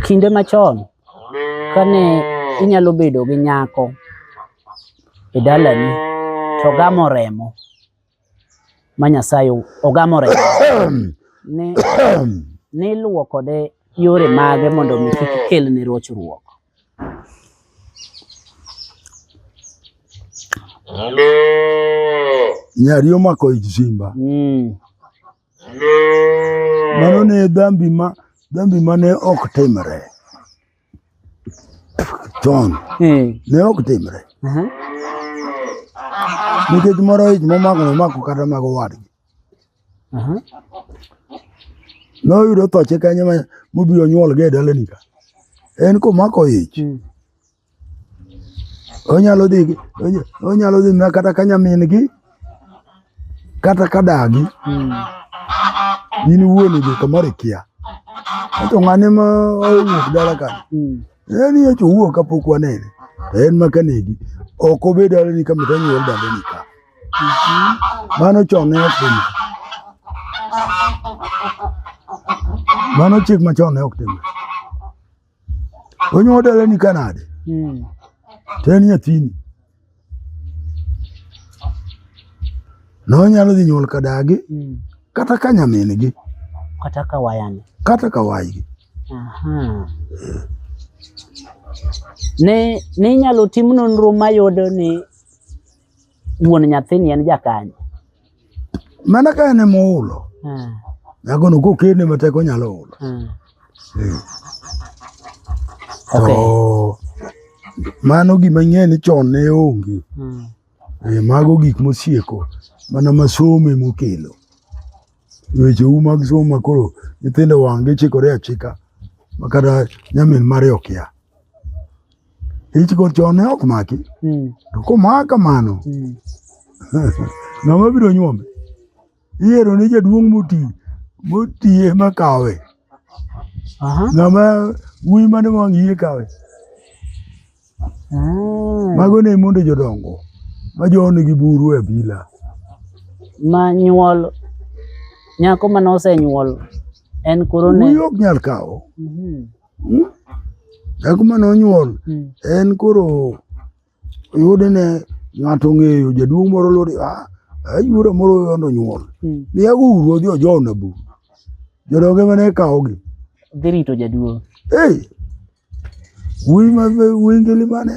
Kinde machon kane inyalo bedo gi nyako e dalani to gamo remo ma Nyasaye ogamo remo ne niluwo kode yore mage mondo mi kik kel ne rochruok nyari omako ich simba mm. Mano ne dhambi ma dhambi ma ne ok timre chon, hmm. ne ok timre uh-huh. nikech moro ich momako nomako kata mago wadgi uh-huh. noyudo thoche kanye mobiro nyuolga e dalani ka en komako ich hmm. onyalo dhi onyalo dhi na kata ka nyamin gi kata ka dagi hmm. in wuon idhi kamoro ikia to ng'ane ma owuok dala ka hmm. en ye to wuok kapok wanene to en ma kanegi ok obed dala ni kama to nyuol dala ni ka hmm. mano chon ne ok tim mano chik machon ne ok tim Onyo odele ni kanade. Mm. Teni nyathini. No nyalo dhi nyuol kadagi. Mm. Kata ka nyamingi. Kata ka wayane. Kata ka waygi. Aha. Ne, ne inyalo tim nonro mayudo ni Wuon nyathini en jakanye? Mana ka en ema ohulo. Hmm. Dhakono kokene matek onyalo hulo. Hmm. Hmm. Okay. To mano gima ng'e ni chon ne onge. Hmm. E, mago gik mosieko mana masome mokelo. Weche u mag somo makoro nyithindo wang'gi chikore achika makata nyamin mare okia. ichiko chone ok maki hmm. to komaka mano hmm. ng'ama biro nyuome iyiero ni jaduong' moti motiye makawe ng'ama wuyi mane wang' yie kawe ah. mago ne mondo jodongo ma jonigi buru e bila ma nyuol nyako mane osenyuol en koro ne wuyi ok nyal kawo mhm. Hmm? Dhako mane onyuol hmm. en koro yude ne ng'ato ong'eyo jaduong' moro lori ah, ayuora moro yondo onyuol. Hmm. Ni ago uru odhi ojow na bu. Jodonge mane kawogi. Dhi rito jaduong'. Hey! Wuyi ma wuyi ngili mane.